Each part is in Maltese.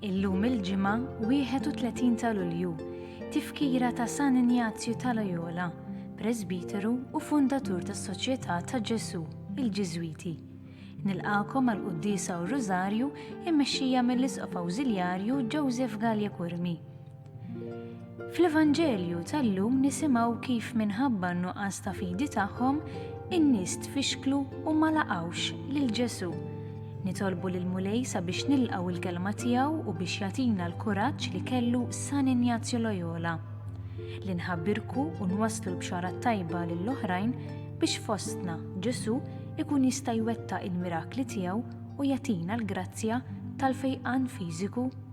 Illum il-Ġimgħa 31 ta' Lulju, tifkira ta' San Injazju ta' Loyola, presbiteru u fundatur tas-Soċjetà ta' Ġesù, il-Ġiżwiti. Nilqakom għal quddiesa u rużarju mmexxija mill-Isqof Awżiljarju Joseph Gallia Curmi. Fl-Evanġelju tal-lum nisimgħu kif minħabba n-nuqqas ta' fidi tagħhom, in-nies tfixklu u ma laqgħux lil Ġesù. Nitolbu lil Mulej sabiex nilqgħu l-kelma tiegħu u biex jagħtina l-kuraġġ li kellu San Injazju Loyola. Li nħabbirku u nwasslu l-bxara tajba lill oħrajn biex fostna Ġesù ikun jista' jwettaq il-mirakli tiegħu u jagħtina l-grazzja tal-fejqan fiżiku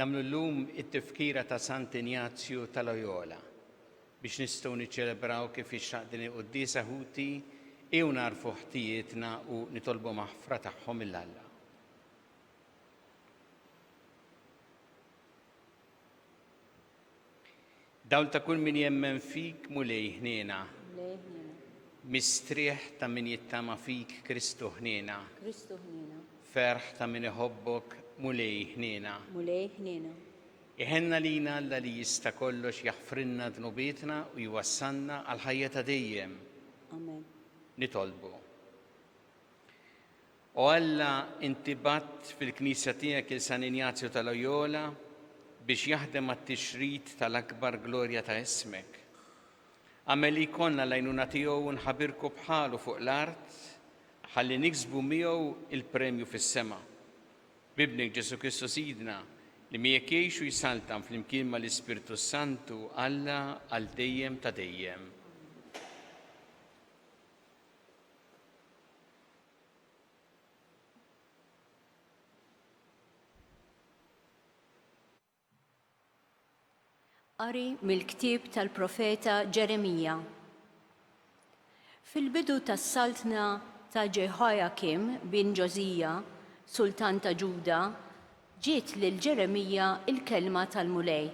Nagħmlu llum it-Tifkira ta' Sant Injazju ta' Loyola biex nistgħu niċċelebraw kif jixraq din il-quddiesa ħuti i u nagħrfu ħtijietna u nitolbu maħfra tagħhom mill Alla. Dawl ta' kull min jemmen fik, Mulej ħniena. Mulej ħniena. Mistrieħ ta' min jittama fik, Kristu ħniena. Kristu ħniena. Ferħ ta' min iħobbok, Mulej ħniena. Mulej ħniena. Iħenna lina Alla li jista' kollox jaħfrilna dnubietna u jwassalna għall-ħajja ta' dejjem. Amen. Nitolbu. O Alla, inti bgħatt fil-Knisja tiegħek 'il San Injazju ta' Loyola biex jaħdem għat-tixrid tal-akbar glorja ta' ismek. Agħmel li jkollna l-għajnuna tiegħu u nħabirku bħalu fuq l-art ħalli niksbu miegħu l-premju fis-sema. B'Ibnek Ġesù Kristu Sidna, li miegħek jgħix u jsaltan flimkien mal-Ispirtu s-Santu, Alla għal dejjem ta' dejjem. Qari mill-ktieb tal-profeta Ġeremija. Fil-bidu tas-saltna ta' Kim bin Ġożija, sultan ta' Ġuda, ġiet lil Ġeremija il-kelma tal-Mulej.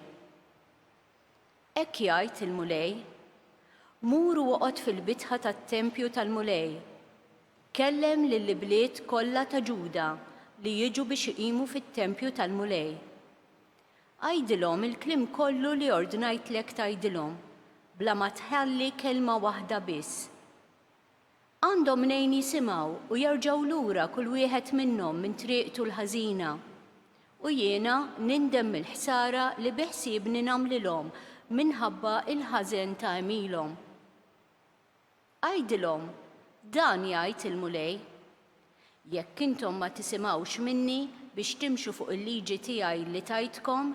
Hekk jgħid il-Mulej, Mur u oqgħod fil-bitħa tat-tempju tal-Mulej. Kellem lill-ibliet kollha ta' Ġuda li jiġu biex iqimu fit-tempju tal-Mulej. Għidilhom il-kliem kollu li ordnajtlek tgħidilhom, bla ma tħalli kelma waħda biss. Għandhom mnejn jisimgħu u jerġgħu lura kull wieħed minnhom minn triqtu l-ħażina. U jiena nindem mill-ħsara li beħsiebni nagħmlilhom minħabba l-ħażen ta' għemilhom. Għidilhom, Dan jgħid il-Mulej, Jekk intom ma tisimgħux minni biex timxu fuq il-liġi tiegħi li tajtkom,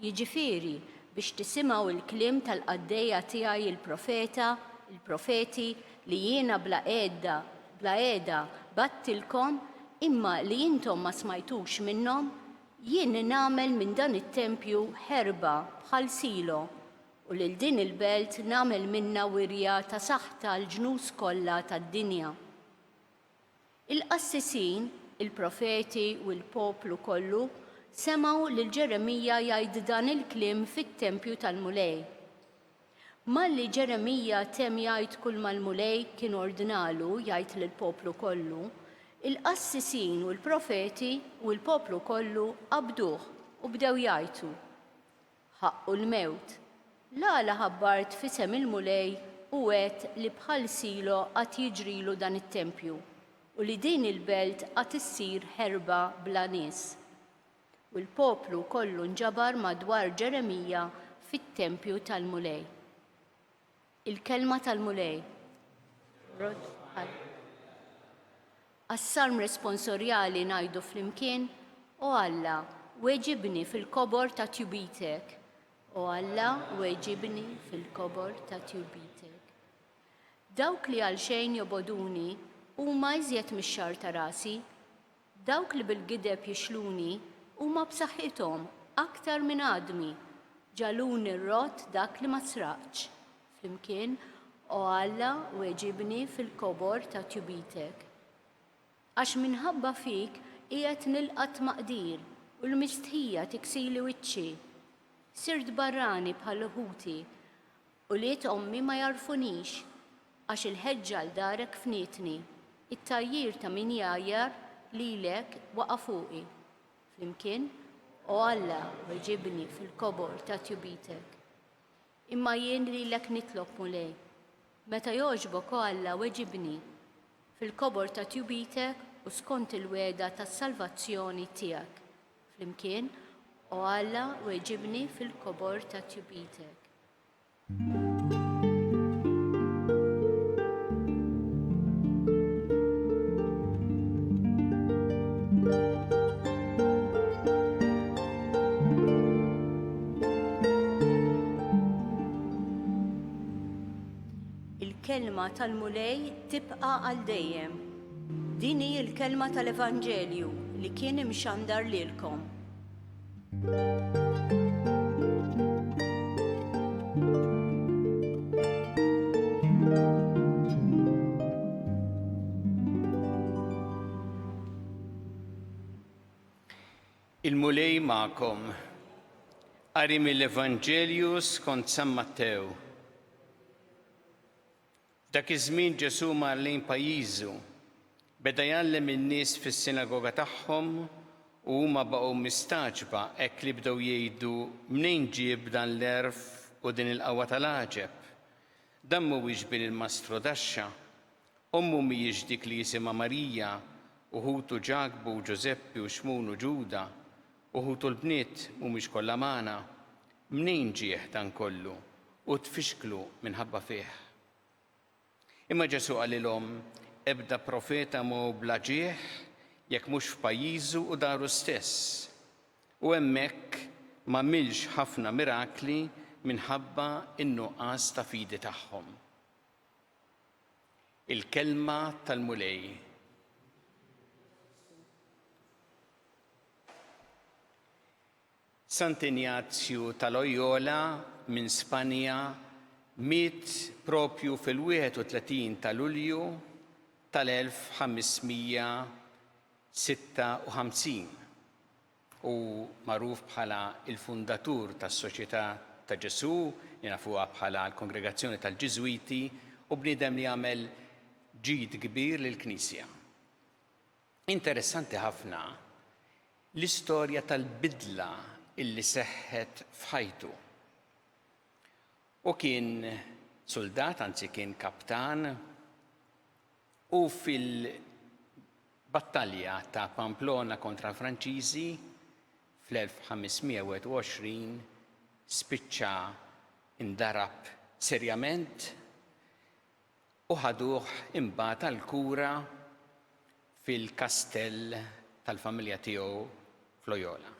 jiġifieri, biex tisimgħu l-kliem tal-qaddejja tiegħi il-profeta, il-profeti, li jiena bla għedda, bla għeda, bgħattilkom, imma li intom ma smajtux minnhom, jien nagħmel minn dan it-tempju ħerba bħal Silo, u lil din il-belt nagħmel minnha wirja ta' saħħta għall-ġnus kollha tad-dinja. Il-qassisin, il-profeti u l-poplu kollu semgħu lil Ġeremija jgħid dan il-kliem fit-tempju tal-Mulej. Malli Ġeremija temm jgħid kulma l-Mulej kien ordnalu jgħid lill-poplu kollu, il-qassisin u l-profeti u l-poplu kollu qabduh u bdew jgħajtu. Ħaqqu l-mewt. L-għala ħabbart f'isem il-Mulej u għedt li bħal Silo għad jiġrilu dan it-tempju, u li din il-belt għad issir ħerba bla nies. U l-poplu kollu nġabar madwar Ġeremija fit-tempju tal-Mulej. Il-kelma tal-Mulej. Għas-salm responsorjali ngħidu flimkien, O Alla, weġibni fil-kobor ta' tjubitek. O Alla, weġibni fil-kobor ta' tjubitek. Dawk li għal xejn joboduni huma iżjed mix-xar ta' rasi, Dawk li bil-gideb jixluni huma b'saħħithom aktar minn għadmi, ġagħluni rrodd dak li ma sraqtx. Flimkien, o Alla, weġibni fil-kobor ta' tjubitek. Għax minħabba fik qiegħed nilqa' t-tmaqdir, u l-mistħija tiksili wiċċi. Sirt barrani bħal ħuti, Ulied ommi ma jagħrfunix, għax il-ħeġġa għal darek fnietni, it-tgħajjir ta' min jgħajjar lilek waqa' fuqi. Flimkien, O Alla, weġibni fil-kobor ta' tjubitek. Imma jien lilek nitlob, Mulej. Meta jogħġbok, O Alla, weġibni, fil-kobor ta' tjubitek u skont il-wegħda tas-salvazzjoni tiegħek. Flimkien, O Alla, weġibni fil-kobor ta' tjubitek. il-kelma tal-Mulej tibqa' għal dejjem. Din hi l-kelma tal-Evanġelju li kien imxandar lilkom. Il-Mulej ma'kom. Qari mill-Evanġelju skont San Mattew. F'dak iż-żmien Ġesù mar lejn pajjiżu. Beda jgħallem in-nies fis-sinagoga tagħhom u huma baqgħu mistagħġba hekk li bdew jgħidu, Mnejn ġieb dan l-għerf u din il-qawwa tal-għaġeb? Dan mhuwiex bin il-mastru taxxa? Ommu mhijiex dik li jisimha Marija, u ħutu Ġakbu u Ġużeppi u Xmun u Ġuda? Uħud u l-bniet mhumiex kollha magħna. Mnejn ġieh dan kollu u tfixklu minħabba fih? Imma Ġesù qalilhom, Ebda profeta ma hu bla ġieh jekk mhux f'pajjiżu u daru stess. U hemmhekk m'għamilx ħafna mirakli minħabba n-nuqqas ta' fidi tagħhom. Il-Kelma tal-Mulej. Sant' Injazju ta' Loyola minn Spanja miet proprju fil-31 ta' Lulju tal-1556. Hu magħruf bħala l-fundatur tas-Soċjetà ta' Ġesù, li nafuha bħala l-Kongregazzjoni tal-Ġiżwiti, u bniedem li għamel ġid kbir lill-Knisja. Interessanti ħafna l-istorja tal-bidla illi seħħet f'ħajtu. Hu kien suldat, anzi kien kaptan, u fil-battalja ta' Pamplona kontra l-Franċiżi fl-1521 spiċċa indarab serjament u ħaduh imbagħad għall-kura fil-kastell tal-familja tiegħu f'Loyola.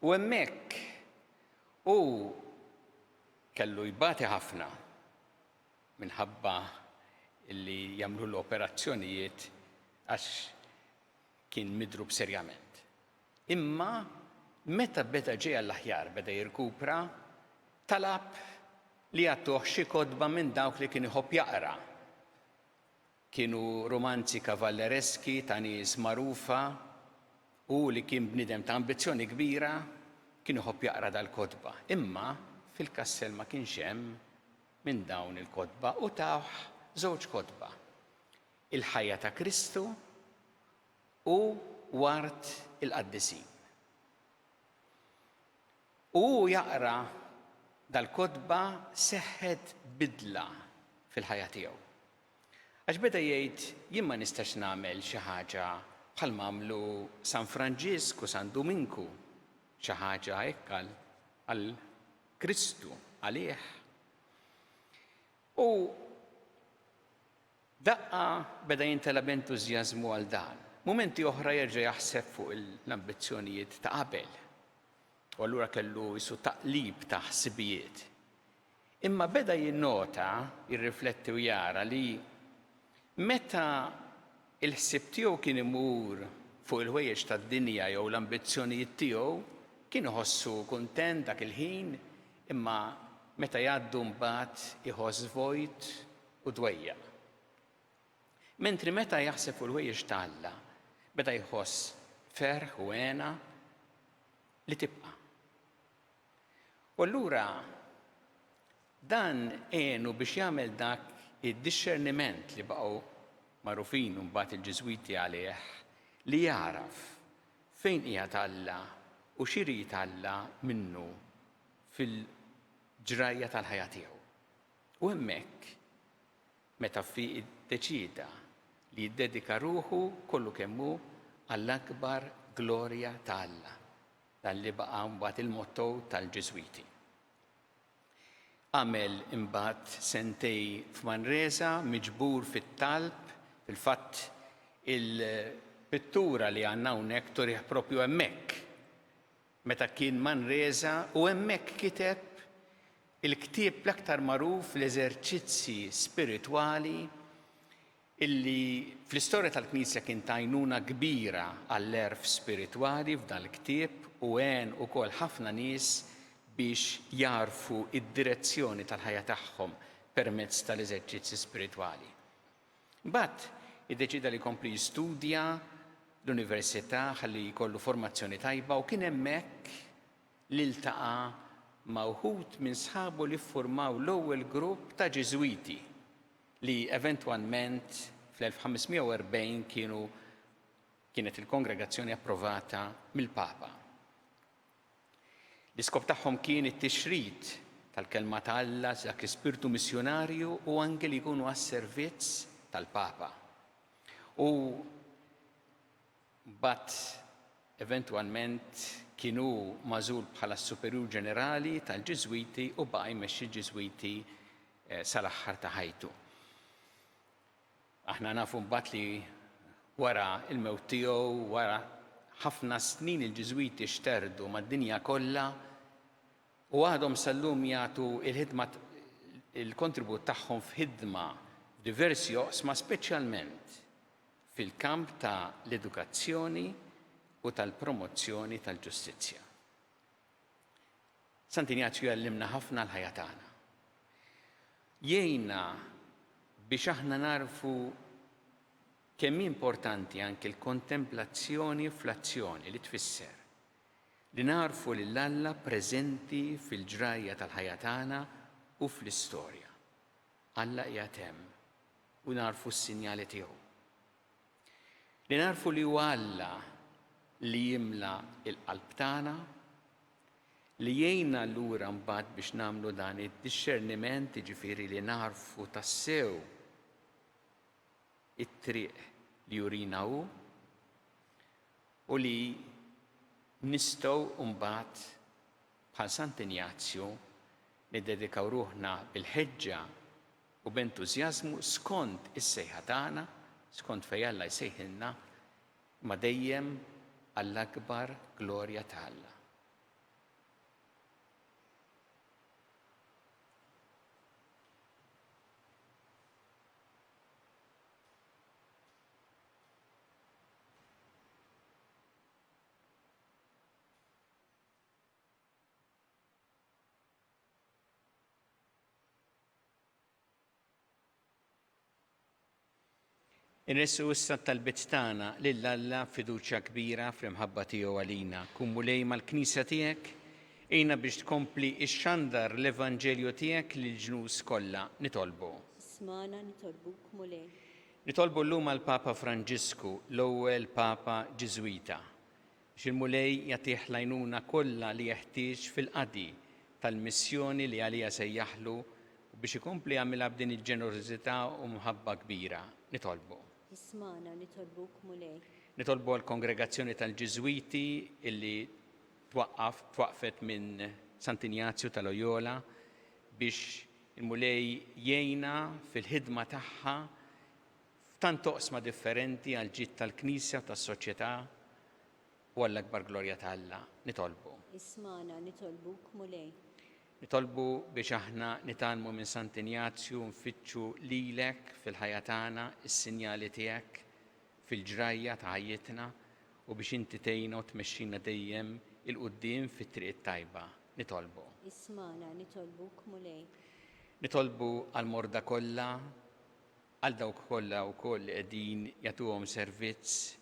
U hemmhekk hu kellu jbati ħafna minħabba li jagħmlu l-operazzjonijiet għax kien midrub serjament. Imma meta beda ġej għall-aħjar, beda jirkupra, talab li jagħtuh xi kotba minn dawk li kien iħobb jaqra. Kienu rumanzi kavallereski ta' nies magħrufa u hu li kien bniedem ta' ambizzjoni kbira kien iħobb jaqra dal-kotba. Imma fil-kassell ma kienx hemm minn dawn il-kotba u tawh żewġ kotba, Il-Ħajja ta' Kristu u ward il-qaddisin. U hu jaqra dal-kotba seħħet bidla fil-ħajja tiegħu. Għax beda jgħid jien ma nistax nagħmel xi ħaġa bħal m'għamlu San Franġisk u San Duminku, xi ħaġa hekk għal Kristu, għalih. U Daqqa beda jimtela b'entużjażmu għal dan. Mumenti oħra jerġa' jaħseb fuq l-ambizzjonijiet ta' qabel, u allura kellu isu taqlib ta' ħsibijiet. Imma beda jinnota, jirrifletti u jara li meta il-ħsieb tiegħu kien imur fuq il-ħwejjeġ tad-dinja jew l-ambizzjonijiet tiegħu, kien iħossu kuntent dak il-ħin, imma meta jgħaddu mbagħad iħoss vojt u dwejjaq. Mentri meta jaħseb fuq il-ħwejjeġ ta' Alla, beda jħoss ferħ u għena li tibqa'. U allura dan għenu biex jagħmel dak id-dixxerniment li baqgħu magħrufin mbagħad il-Ġiżwiti għalih li jagħraf fejn qiegħed Alla u x'irid Alla minnu fil-ġrajja tal-ħajja tiegħu. U hemmhekk, meta ffiq iddeċieda li jiddedika ruħu kollu kemm hu għall-akbar glorja ta' Alla, dan li baqa' mbagħad il-motto tal-Ġiżwiti. Għamel imbagħad sentej f'Manresa miġbur fit-talb, fil-fatt il-pittura li għandna hawnhekk turih proprju hemmhekk. meta kien Manresa u hemmhekk kiteb il-ktieb l-aktar magħruf L-Eżerċizzji Spiritwali illi fl-istorja tal-Knisja kien ta' għajnuna kbira għall-għerf spiritwali f'dan il-ktieb u għen ukoll ħafna nies biex jagħrfu d-direzzjoni tal-ħajja tagħhom permezz tal-eżerċizzji spiritwali. Imbagħad iddeċieda li jkompli jistudja l-università ħalli jkollu formazzjoni tajba u kien hemmhekk li ltaqa' ma' wħud minn sħabu li ffurmaw l-ewwel grupp ta' Ġiżwiti li eventwalment fl-1540 kienu kienet il-kongregazzjoni approvata mill-Papa. L-iskop tagħhom kien it-tixrid tal-Kelma ta' Alla dak l-ispirtu missjunarju u anki li jkunu għas-servizz tal-Papa. U bat eventwalment kienu mażul bħala s-Superjur Ġenerali tal-Ġiżwiti u baqa' jmexxi l-Ġiżwiti eh, sal-aħħar ta' ħajtu. Aħna nafu mbagħad li wara l-mewt tiegħu, wara ħafna snin il-Ġiżwiti xterdu mad-dinja kollha u għadhom sal-lum jagħtu l-ħidma il-kontribut tagħhom f'ħidma f'diversi oqsma speċjalment fil-kamp ta' l-edukazzjoni u tal-promozzjoni tal-ġustizzja. Sant Injazju jgħallimna ħafna għall-ħajja tagħna. Jgħinna biex aħna nagħrfu kemm hi importanti anki l-kontemplazzjoni fl-azzjoni li tfisser li nagħrfu lil Alla preżenti fil-ġrajja tal-ħajja tagħna u fl-istorja. Alla qiegħed hemm u nagħrfu s-sinjali tiegħu. Li narfu li huwa Alla li jimla l-qalb tagħna, li jgħinna allura mbagħad biex nagħmlu dan id-dixxerniment, jiġifieri li narfu tassew it-triq li jurina hu u li nistgħu mbagħad bħal Sant Injazju niddedikaw ruħna bil-ħeġġa u b'entużjażmu skond is-sejħa tagħna, skond fejn Alla jsejħilna, imma dejjem għall-akbar glorja ta' Alla. Inresqu issa t-talbiet tagħna lil Alla b'fiduċja kbira fl-imħabba tiegħu għalina. Kun mulej mal-Knisja tiegħek, għinha biex tkompli ixxandar l-evanġelju tiegħek lill-ġnus kollha. Nitolbu. Smagħna nitolbuk, Mulej. Nitolbu llum għall-Papa Franġisku, l-ewwel Papa Ġiżwita. X'il-Mulej jagħtih l-għajnuna kollha li jeħtieġ fil-qadi tal-missjoni li għaliha sejjaħlu u biex ikompli jagħmilha b'din il-ġenerożità u mħabba kbira. Nitolbu. Ismagħna, nitolbuk, Mulej. Nitolbu għall-Kongregazzjoni tal-Ġiżwiti illi twaqqaf, twaqqfet minn Sant Injazju ta' Loyola, biex il-Mulej jgħinha fil-ħidma tagħha, f'tant oqsma differenti għall-ġid tal-Knisja u tas-soċjetà u għall-akbar glorja ta' Alla. Nitolbu. Ismagħna, nitolbuk, Mulej. Nitolbu biex aħna nitgħallmu minn Sant Injazju u nfittxu lilek fil-ħajja tagħna, is-sinjali tiegħek fil-ġrajja ta' ħajjitna u biex inti tgħinna u tmexxina dejjem 'il quddiem fit-triq it-tajba. Nitolbu. Ismagħna, nitolbuk, Mulej. Nitolbu għall-morda kollha Għal dawk kollha wkoll li qegħdin jagħtuhom servizz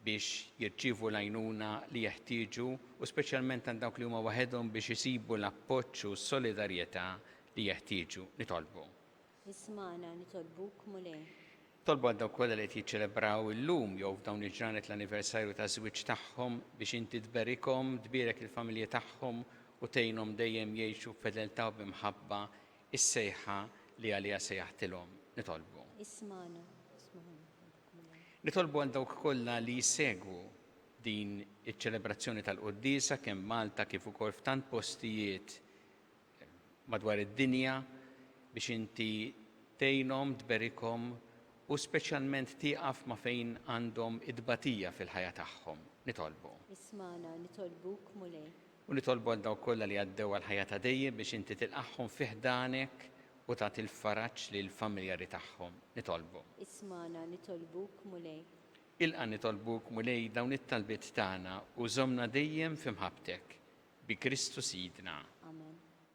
biex jirċievu l-għajnuna li jeħtieġu u speċjalment għal dawk li huma waħedhom biex isibu l-appoġġ u s-solidarjetà li jeħtieġu. Nitolbu. Ismagħna, nitolbuk, Mulej. Nitolbu għal dawk kollha li qed jiċċelebraw illum jew f'dawn il-ġranet l-anniversarju taż-żwieġ tagħhom biex Inti tberikhom, tbierek il-familji tagħhom u tgħinhom dejjem jgħixu b'fedeltà u b'imħabba Is-sejħa li għaliha sejjaħtilhom nitolbu. Ismagħna, ismagħna. Nitolbu għal dawk kollha li jissegwu din iċ-ċelebrazzjoni tal-quddiesa kemm Malta kif ukoll f'tant postijiet madwar id-dinja biex inti tgħinhom, tberikhom u speċjalment tieqaf ma' fejn għandhom it-tbatija fil-ħajja tagħhom. Nitolbu. Ismagħna, nitolbuk, Mulej. U nitolbu għal dawk kollha li għaddew għal ħajja ta' dejjem biex Inti tilqagħhom fi ħdanek u tagħti l-faraġ lill-familjari tagħhom. Nitolbu. Ismagħna, nitolbuk, Mulej. Ilqa', nitolbuk, Mulej, dawn it-talbiet tagħna u żommna dejjem fi mħabbtek. Bi Kristu Sidna. Amen.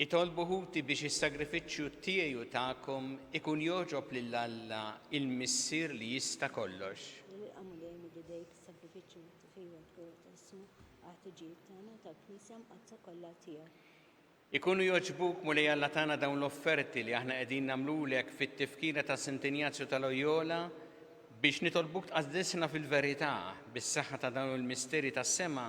Itolbu ħuti biex is-sagrifiċċju tiegħi u tagħkom ikun jogħġob lil Alla l-Missier li jista' kollox. Li nilqgħu dejjem id idejk is-sagrifiċċju mit-tifgħir u l-qrugħ ta' Jesù għall-ħtiġijiet tagħna u tal-Knisja mqaddsa kollha tiegħu. Ikunu jogħġbuk, Mulej Alla tagħna, dawn l-offerti li aħna qegħdin nagħmlulek fit-tifkira ta' Sint Injazju ta' Loyola biex nitolbuk tqaddisna fil-verità bis-saħħa ta' dawn il-misteri tas-sema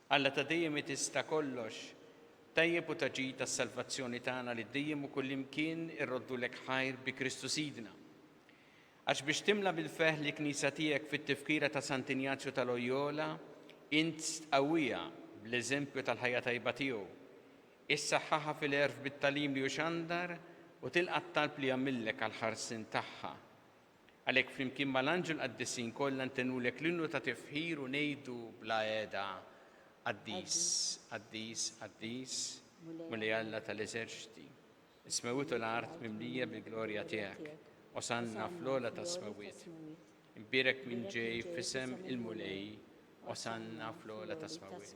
Alla ta' dejjem hi tista' kollox. Tajjeb u ta' ġid għas-salvazzjoni tagħna li dejjem u kullimkien irroddulek ħajr bi Kristu Sidna. Għax biex timla bil-ferħ l-Knisja tiegħek fit-tifkira ta' Sant Injazju ta' Loyola, int tqawwiha bl-eżempju tal-ħajja tajba tiegħu. Issaħħaħha fil-għerf bit-tagħlim li hu xandar u tilqa' t-talb li jagħmillek għall-ħarsien tagħha. Għalhekk flimkien mal-anġli l-qaddisin kollha ntennulek l-innu ta' tifħir u ngħidu bla qiegħda, Qaddis, qaddis, qaddis, Mulej Alla tal-eżerċiti, is-smewwiet u l-art mimlija bil-glorja tiegħek, Osanna fl-ogħla tas-smewwiet. Imbierek min ġej f'isem il-Mulej, Osanna fl-ogħla tas-smewwiet.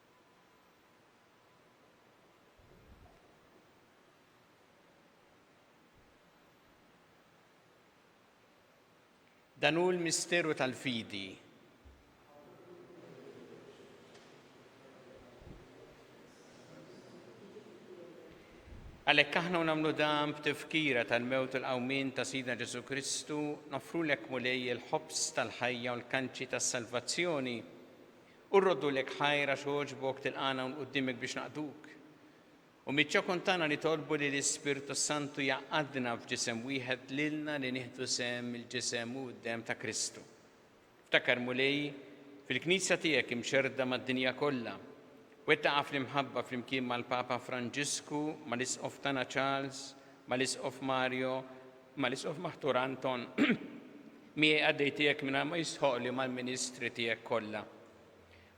Dan hu l-misteru tal-fidi. Għalhekk aħna nagħmlu dan b'tifkira tal-mewt u l-qawmien ta' Sidna Ġesu Kristu, nofrulek Mulej il-ħobż tal-ħajja u l-kanċi tas-salvazzjoni U rroddulek ħajr għax għoġbok tilqagħna hawn quddiemek biex naqduk. U miċ-ċokon tagħna nitolbu li l-Ispirtu s-Santu jgħaqqadna f'ġisem wieħed lilna li nieħdu sehem mill-ġisem u d-demm ta' Kristu. Ftakar, Mulej, fil-Knisja tiegħek imxerrda mad-dinja kollha, wettaqha fl-imħabba flimkien mal-Papa Franġisku, mal-Isqof tagħna Charles, mal-Isqof Mario, mal-Isqof Maħtur Anton, miegħi qaddej tiegħek mingħajr ma jistħoqqli mal-ministri tiegħek kollha.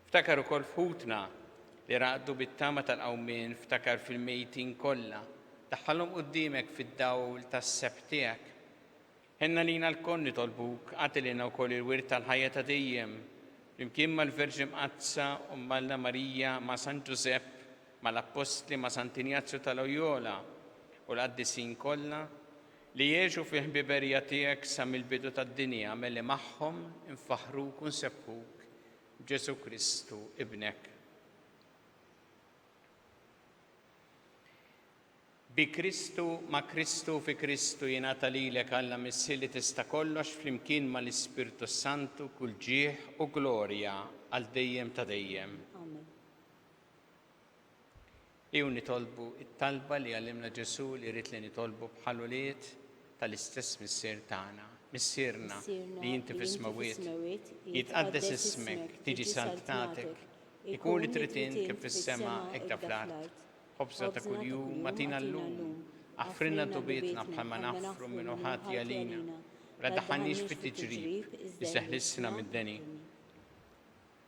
Ftakar ukoll f'ħutna li raqdu bit-tama tal-qawmien, ftakar fil-mejtin kollha, daħħalhom quddiemek fid-dawl tas-seb tiegħek. Ħenna lina lkoll nitolbuk, agħti lilna wkoll il-wirt tal-ħajja ta' dejjem, flimkien mal-Verġni Mqaddsa, Ummalna Marija, ma' San Ġużepp, mal-Appostli, ma' Sant'Injazju ta' Loyola u l-qaddisin kollha, li jgħixu fil-ħbiberija tiegħek sa mill-bidu tad-dinja, agħmeli magħhom infaħħruk u nsebbħuk b'Ġesù Kristu Ibnek. Bi Kristu, ma' Kristu u fi Kristu jingħata lilek Alla Missier li tista' kollox flimkien mal-Ispirtu s-Santu kull ġieħ u glorja għal dejjem ta' dejjem. Amen. Ejjew nitolbu t-talba li għallimna Ġesù li jrid li nitolbu bħal ulied tal-istess Missier tagħna. Missierna li inti fis-smewwiet, jitqaddes ismek, tiġi saltnatek, ikun li trid int kif fis-sema hekk da fl-art. Ħobżna ta' kuljum matina llum, aħfrilna dubietna bħalma naħfru minn uħati għalina, la daħħalniex fit-tiġrib, iżda ħlisna mid-deni.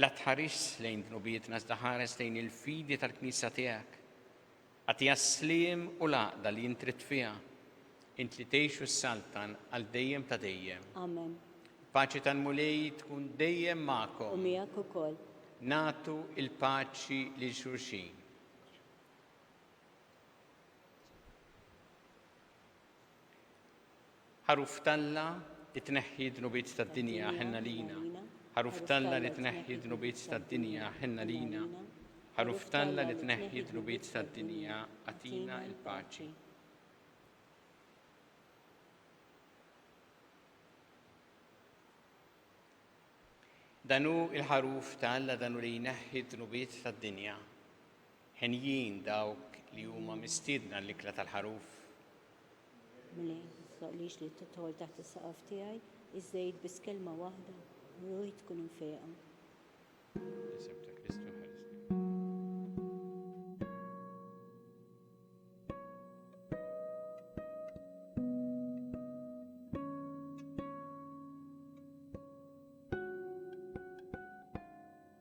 La tħarisx lejn dnubietna iżda ħares lejn il-fidi tal-Knisja tiegħek. Agħtiha s-sliem u l-għaqda li int trid fiha, int li tgħix u ssaltan għal dejjem ta' dejjem. Amen. Il-paċi tal-Mulej tkun dejjem magħkom. U miegħek ukoll. Nagħtu il-paċi lil xulxin. Ħaruf t'Alla li tneħħi d-dnubiet tad-dinja, ħenn għalina. Ħaruf t'Alla li tneħħi d-dnubiet tad-dinja, ħenn għalina. Ħaruf t'Alla li tneħħi d-dnubiet tad-dinja, atina il-paċi. Dan hu il-ħaruf ta' Alla dan hu li jneħħi d-dnubiet tad-dinja. Henjin dawk li huma mistiedna għall-ikla tal-Ħaruf. Mulej, toħloqlix li tidħol taħt is-saqaf tiegħi, iżda jgħid biss kelma waħda u ruħi tkun imfejqa.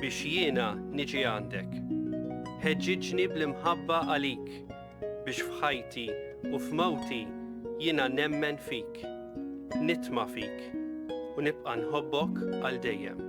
biex jiena niġi għandek. Ħeġġiġni bl-imħabba għalik biex f'ħajti u f'mewti jiena nemmen fik, nitma' fik u nibqa' nħobbok għal dejjem.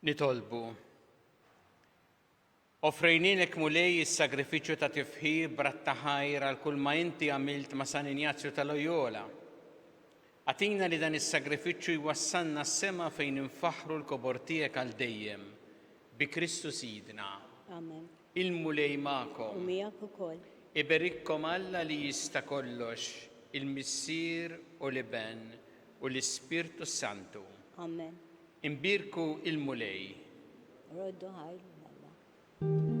Nitolbu. Offrejnienek mulej is-sagrifiċċju ta' tifħir brat ta' ħajr għal kull ma inti għamilt ma' San Injazju ta' Loyola. Atina li dan is-sagrifiċċju jwassalna s-sema fejn infaħħru l-kobor tiegħek għal dejjem. Bi Kristu Sidna. Amen. Il-Mulej magħkom. U miegħek ukoll. Iberikkom Alla li Jista' Kollox, il-Missier u l-Iben u l-Ispirtu s-Santu. Amen. Inbierku l-Mulej. Roddu ħajr lil Alla.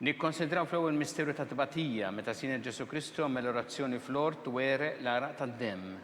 Nikkonsidraw fl-ewwel misteru tat-Tbatija, meta Sidna Ġesù Kristu għamel orazzjoni fl-ort u għereq l-għaraq tad-demm.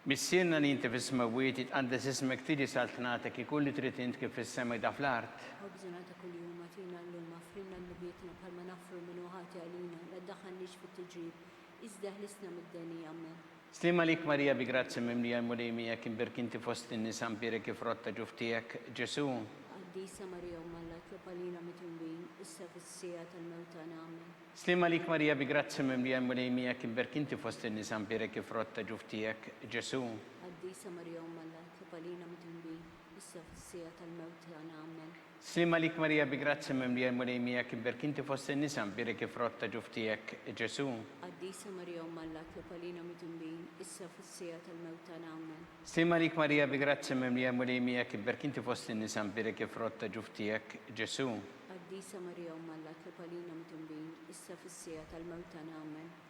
Missierna li inti fis-smewwiet, jitqaddes ismek, tiġi saltnatek, ikun li trid int kif fis-sema jda fl-art. Ħobżna ta' kuljum agħtina llum, aħfrilna dnubietna bħalma naħfru lil min hu ħati għalina, la ddaħħalniex fit-tiġrib, iżda eħlisna mid-deni. Amen. Slim għalik Marija bi grazzja mimlija l-Mulej miegħek imbierk inti fost in-nisa mbierek il-frott ta' ġuf tiegħek Ġesu'. Qaddisa Marija Omm Alla tlob għalina midjubin issa fis-siegħa tal-mewt tagħna Amen. Slim għalik Marija bi grazzja mimlija l-Mulej miegħek imbierk inti fost in-nisa mbierek il-frott ta' ġuf tiegħek Ġesu'. Qaddisa Marija Omm Alla tlob għalina midjubin issa fis-siegħa tal-mewt tagħna Amen. Sliem għalik Marija bi grazzja mimlija l-Mulej miegħek imberk inti fost in-nisa mbierek il-frott ta' ġuf tiegħek Ġesu. Qaddisa Marija Omm Alla itlob għalina midnbin issa u fis-siegħa tal-mewt tagħna Ammen. Sliem għalik Marija bi grazzja mimlija l-Mulej miegħek imberk inti fost in-nisa mbierek il-frott ta' ġuf tiegħek Ġesu. Qaddisa Marija Omm Alla itlob għalina midnbin issa u fis-siegħa tal-mewt tagħna Ammen.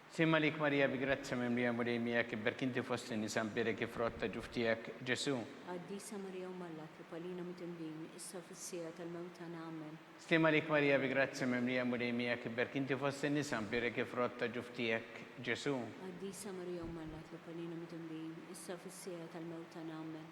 Sejm għalik Marija bi grazzja mimlija Mulej miegħek ibberk inti fost in-nisa mbierek il-frott ta' ġuf tiegħek Ġesu'. Qaddisa Marija Omm Alla tlb għalina midinbin issa u fis-siegħa tal-mewt tagħna Amen. Sejm għalik Marija bi grazzja mimlija Mulej miegħek ibberk inti fost in-nisa mbierek il-frott ta' ġuf tiegħek Ġesu'. Qaddisa Marija Omm Alla tlb għalina midinbin issa u fis-siegħa tal-mewt tagħna Amen.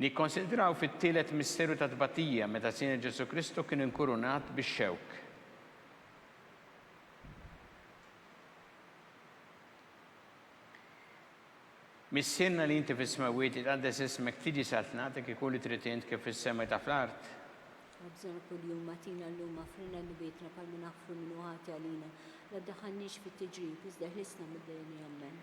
Nikkonsidraw fit-tielet misteru ta' tbatija meta Sidna Ġesù Kristu kien inkurunat bix-xewk. Missierna li inti fis-smewwiet itqaddes ismek tiġi saltnatek ikun li trid int kif fis-sema ta' fl-art. Ħobżna kuljum agħtina llum aħfrilna dnubietna bħalma naħfru min hu ħati għalina. La ddaħħalniex fit-tiġrib iżda ħlisna mid-dejn. Ammen.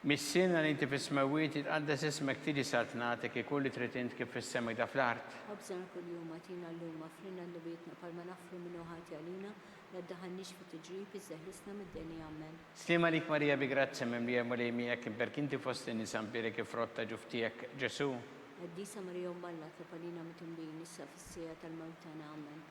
Missierna li inti fis-smewwiet, jitqaddes ismek, tiġi saltnatek, ikun li trid int kif fis-sema kda fl-art. Ħobżna kuljum agħtina llum, aghfrilna dnubietna bħalma naghfru min hu ħati għalina, la ddaħħalniex fit-tiġrib, iżda ħlisna mid-deni. Amen. Sliem għalik Marija bi grazzja mimlija l-Mulej miegħek, mberk inti fost in-nisa mbierek il-frott ta' ġuf tiegħek, Ġesù. Qaddisa Marija Omm Alla, tlop għalina mitnbin, issa fis-siegħa tal-mewt tagħna. Amen.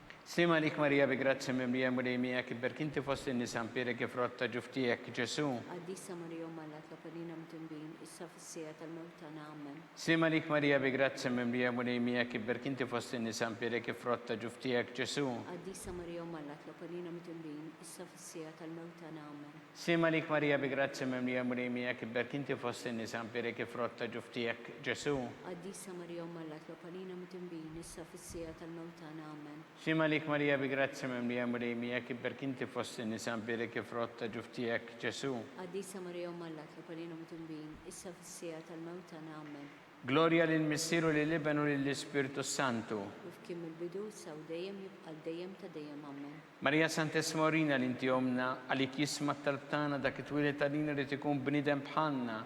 Sliem għalik Marija bi grazzja mimlija Mulej miegħek iberk inti fost in-nisa npierek il-frott ta' ġuf tiegħek Ġesu'. Qaddisa Marija Omm Alla tlob għalina mdinbin issa fis-siegħa tal-mewt tagħna Amen. Sliem għalik Marija bi grazzja mimlija Mulej miegħek iberk inti fost in-nisa npierek il-frott ta' ġuf tiegħek Ġesu'. Qaddisa Marija Omm Alla tlob għalina mdinbin issa fis-siegħa tal-mewt tagħna Amen. Sliem għalik Marija bi grazzja mimlija Mulej miegħek ibberk inti fost in-nisa nbierek il-frott ta' ġuf tiegħek Ġesù. Qaddisa Marija Omm Alla tlob għalina mudinbin issa u fis-siegħa tal-mewt tagħna Amen. Sliem għalik Marija bi grazzja mimlija Mulej miegħek ibberk inti fost in-nisa nbierek il-frott ta' ġuf tiegħek Ġesù. Qaddisa Marija Omm Alla tlob għalina mudinbin issa u fis-siegħa tal-mewt tagħna Amen. Glorja lill-Missier u lill-Iben u lill-Ispirtu s-Santu. Kif kien mill-bidu, issa u dejjem, jibqa' għal dejjem ta' dejjem. Ammen. Marija Santissima urina li inti ommna, għalik jisma' t-talb tagħna, dak itwieled għalina jrid ikun bniedem bħalna.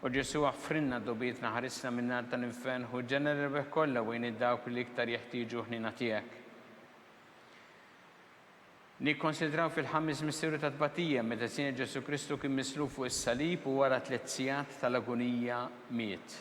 O Ġesù aħfrilna dogħbietna ħarisna min-nar tal-infern ħu ġenna l-erbieħ kollha u għin lil dawk li l-iktar jeħtieġu l-ħniena tiegħek. Nikkonsidraw fil-Ħamis Misteru tat-Tbatija meta s-Sinjur Ġesù Kristu kien mislub fuq is-salib u wara tliet sigħat tal-agunija miet.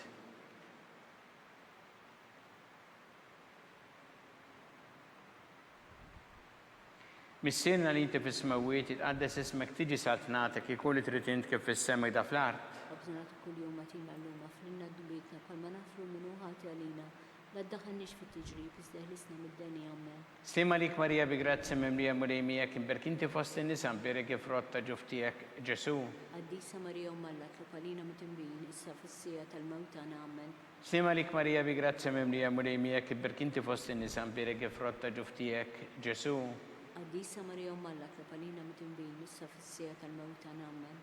Missierna li inti fis-smewwiet, jitqaddes ismek, tiġi saltnatek, ikun li trid int kif fis-sema jda fl-art. Ħobżna ta' kuljum agħtina llum, aħfrilna dnubietna bħalma naħfru min hu ħati għalina, la ddaħħalniex fit-tiġrib, iżda eħlisna mid-deni. Amen. Sliem għalik Marija bi grazzja mimlija Mulej miegħek imberk inti fost in-nisa mbierek il-frott ta' ġuf tiegħek Ġesu'. Qaddisa Marija Omm Alla tlop għalina mitnbin issa fis-siegħa tal-mewt tagħna Amen. Sliem għalik Marija bi grazzja mimlija Mulej miegħek imberk inti fost in-nisa mbierek il-frott ta' ġuf tiegħek Ġesu'. Qaddisa Marija Omm Alla tlop għalina mitnbin issa fis-siegħa tal-mewt tagħna Amen.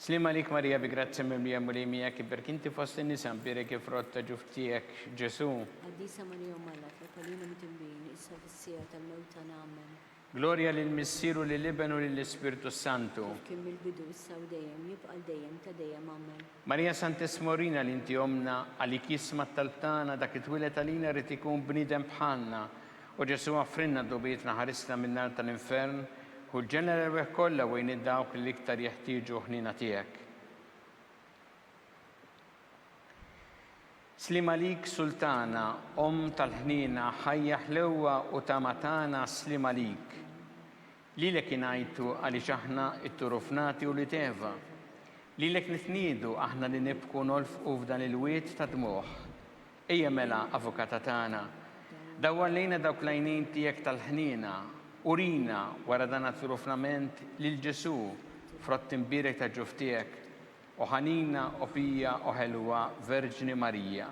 Sliem għalik Marija bi grazzja mimlija Mulej miegħek iberk inti fost in-nisa mbierek il-frott ta' ġuf tiegħek Ġesu'. Qaddisa Marija Omm Alla tlob għalina midinbin issa u fis-siegħa tal-mewt tagħna Amen. Glorja lil Missier u lil Iben u lil Ispirtu s-Santu. Kif kien mill-bidu issa u dejjem jibqa' għal dejjem ta' dejjem Amen. Marija Santissima urina li inti ommna għalik jisma' t-talb tagħna dak li twieled għalina jrid ikun bniedem bħalna O Ġesu' affrinna d-dugħbiet li ħaristna min-nar tal-infern u l-ġenn l-erwieħ kollha u għinid dawk li l-iktar jeħtieġu ħniena tiegħek. Sliem għalik Sultana, Omm tal-ħniena, ħajja ħlewwa u tama tagħna sliem għalik. Lilek ingħajtu għaliex aħna t-turufnati u l-iteva. Lilek nitniedu aħna li nibku nolfqu f'dan il-wied tad-dmugħ. Ejja mela, Avukata tagħna, dawwal lejna dawk l-għajnejn tiegħek tal-ħniena, urina, wara dan it-trufnament, lil Ġesù, frott imbierek tal-ġuf tiegħek, O ħanina, O pija, O ħelwa Verġni Marija.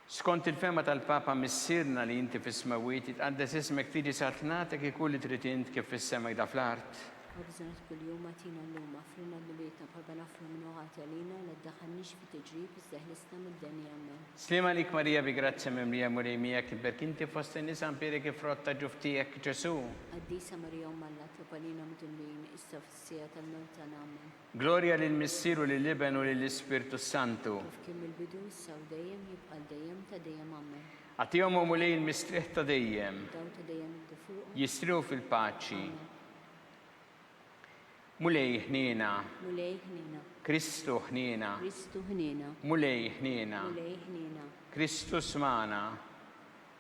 Skont il-fehma tal-Papa, Missierna li inti fis-smewwiet, jitqaddes ismek, tiġi saltnatek, ikun li trid int kif fis-sema jda fl-art. Hawn bżonnet kuljum agħtina llum, Għafrilna dnubietna bħalma nagħfru min hu ħati għalina, La ddaħħalniex fi tiġrib, iżda eħlisna mid-deni, Amen. Sliem għalik Marija bi grazzja mimlija Mulej miegħek itberki inti fost in-nisa nbierek il-frott ta' ġuf tiegħek Ġesù. Qaddisa Marija Omm Alla itlob għalina midinbin issa u fis-siegħa tal-mewt tagħna, Amen. Glorja lill-Missier u lill-Iben u lill-Ispirtu s-Santu. Kif kien mill-bidu issa u dejjem jibqa' għal dejjem ta' dejjem, Amen. Agħtihom O Mulej il-mistrieħ ta' dejjem. Id-dawl ta' dejjem iqdi fuqhom. Jistrieħu fil-paċi. Amen. Mulej ħniena. Mulej ħniena. Kristu ħniena. Kristu ħniena. Mulej ħniena. Mulej ħniena. Kristu smana.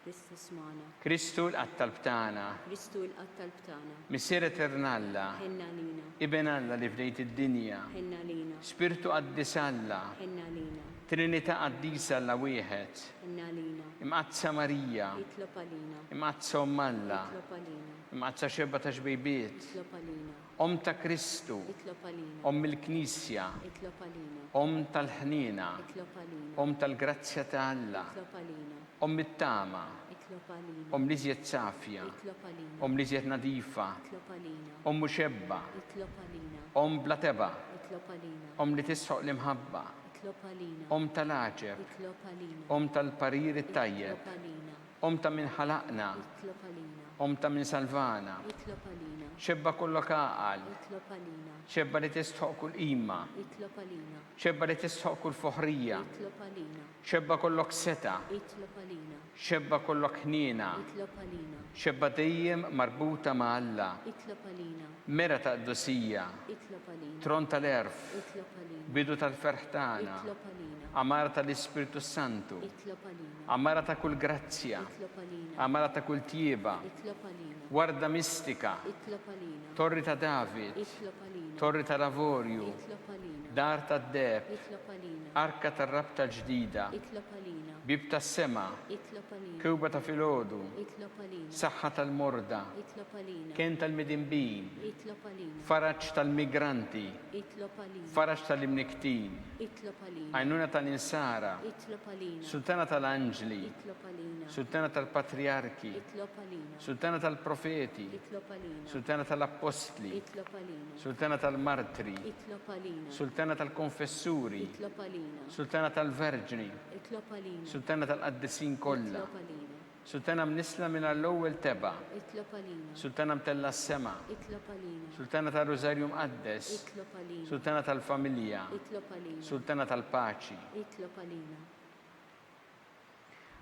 Kristu smana. Kristu l-qatt tal-btana. Kristu l-qatt tal-btana. Missier Eternalla. Ħenna lina. Iben Alla li fdejt id-dinja. Ħenna lina. Spirtu Qaddis Alla. Ħenna lina. Trinità Qaddisa Alla wieħed. Ħenna lina. Imqaddsa Marija. Itlob għalina. Imqaddsa Omm Alla. Itlob għalina. Imqaddsa Xebba ta' Xbejbiet, Omm ta' Kristu, Omm il-Knisja, Omm tal-ħniena, Omm tal-grazzja ta' Alla, Omm it-tama, Omm l-iżjed safja, Omm l-iżjed nadifa, Omm mhux ebba, Omm bla tebgħa, Omm li tisħoq l-imħabba, Omm tal-għaġeb, Omm tal-parir it-tajjeb, Omm ta' min ħalaqna. Omm ta' min salvana. Xebba kollok għaqal. Xebba li tistħoq kull qima. Xebba li tistħoq kull foħrija. Xebba kollok seta. Xebba kollok ħniena. Xebba dejjem marbuta ma' Alla. Mera ta' qdusija, tron tal-għerf, bidu tal-ferħ tagħna, għamara tal-Ispirtu s-Santu, għamara ta' kull grazzja, għamara ta' kull tjieba, warda mistika, torri ta' David, torri tal-avorju, dar tad-deheb, arka tar-rabta l-ġdida, Bieb tas-sema, kewba ta' filgħodu, saħħa tal-morda, kenn tal-midinbin, faraġ tal-migranti, faraġ tal-imnikktin, għajnuna tal-insara, sultana tal-anġli, sultana tal-patrijarki, sultana tal-profeti, sultana tal-appostli, sultana tal-martri, sultana tal-konfessuri, sultana tal-verġni. Sultana tal-Qaddisin kollha. Sultana mnissla mingħajr l-ewwel tebgħa. Sultana mtellgħa s-sema. Sultana tar-Rużarju Mqaddes. Sultana tal-familja. Sultana tal-paċi.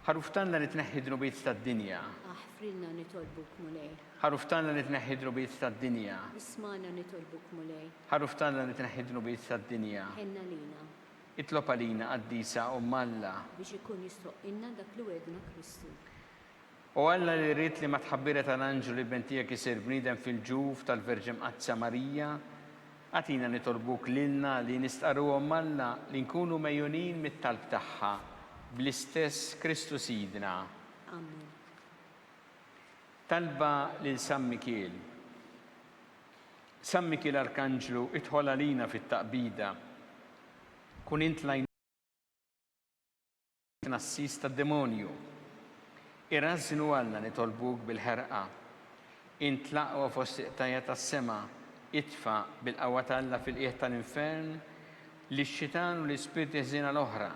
Ħaruf tagħna li tneħħi d-dnubiet tad-dinja. Aħfrilna nitolbuk Mulej. Ħaruf tagħna li tneħħi d-dnubiet tad-dinja. Ismagħna nitolbuk Mulej. Ħaruf tagħna li tneħħi d-dnubiet tad-dinja. Ħenna lina. Itlob għalina, Qaddisa Omm Alla. Biex ikun jistħoqqilna dak li wegħdna Kristu. O Alla li ridt li mat-tħabbira tal-anġlu l-Iben tiegħek isir bniedem fil-ġuf tal-Verġi Mqaddsa Marija, agħtina nitolbuk lilna li nistqarru Omm Alla li nkunu megħjunin mit-talb tagħha, bl-istess Kristu Sidna. Amen. Talba lil San Mikiel. San Mikiel Arkanġlu idħol għalina fit-taqbida, kun int l-għajnuna għalina fit-tnassis tad-demonju. Irażżnu għalna nitolbuk bil-ħerqa. Int l-aqwa fost iqtajja tas-sema, itfa' bil-qawwa ta' Alla fil-qiegħ tal-infern lix-xitan u l-ispirti ħżiena l-oħra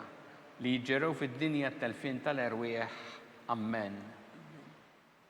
li jġerrew fid-dinja t-telfien tal-erwieħ. Ammen.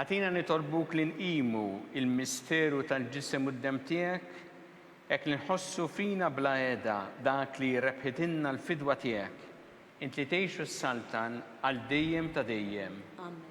Agħtina nitolbuk li nqimu l-misteru tal-ġisem u d-demm tiegħek hekk li nħossu fina bla heda dak li rebħitilna l-fidwa tiegħek, int li tgħix u ssaltan għal dejjem ta' dejjem. Amen.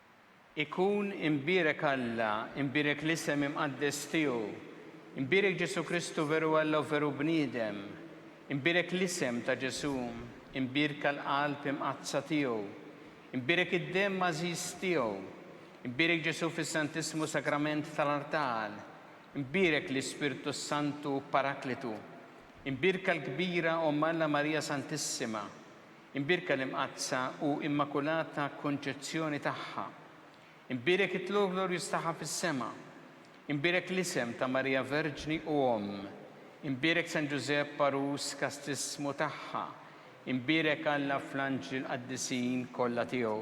Ikun imbierek Alla, imbierek l-isem imqaddes tiegħu, imbierek Ġesù Kristu veru Alla u veru bniedem, imbierek l-isem ta' Ġesù, imbierka l-qalb imqaddsa tiegħu, imbierek id-demm għażiż tiegħu, imbierek Ġesù fis-Santissmu Sagrament tal-artal, imbierek l-Ispirtu s-Santu u Paraklitu, imbierka l-kbira Omm Alla Marija Santissima, Imbierka l-Imqaddsa u Immakulata Konċezzjoni tagħha. Imbierek it-tlugħ glorjuż tagħha fis-sema. Imbierek l-isem ta' Marija Verġni u Omm. Imbierek San Ġużepp Għarus Kastissmu tagħha. Imbierek Alla fl-anġli l-qaddisin kollha tiegħu.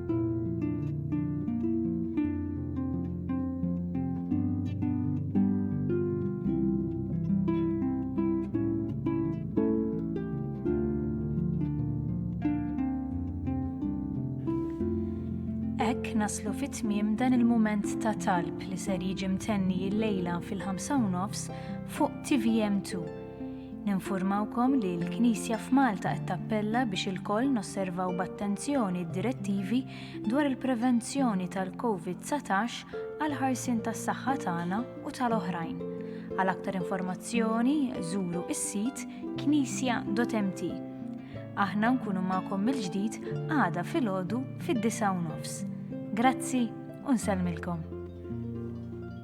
Hekk naslu fit tmiem dan il-mument ta' talb li ser jiġi mtenni l-lejla fil-5 nofs fuq TVM2 Ninfurmawkom li l-Knisja f'Malta qed tappella biex ilkoll nosservaw b'attenzjoni d-direttivi dwar il-prevenzjoni tal-COVID-19 għall-ħarsien tas-saħħa tagħna u tal-oħrajn. Għal aktar informazzjoni, żuru s-sit knisja.mt. Aħna nkunu magħkom mill-ġdid għada filgħodu fid-9 nofs. Grazzi u nsellmilkom.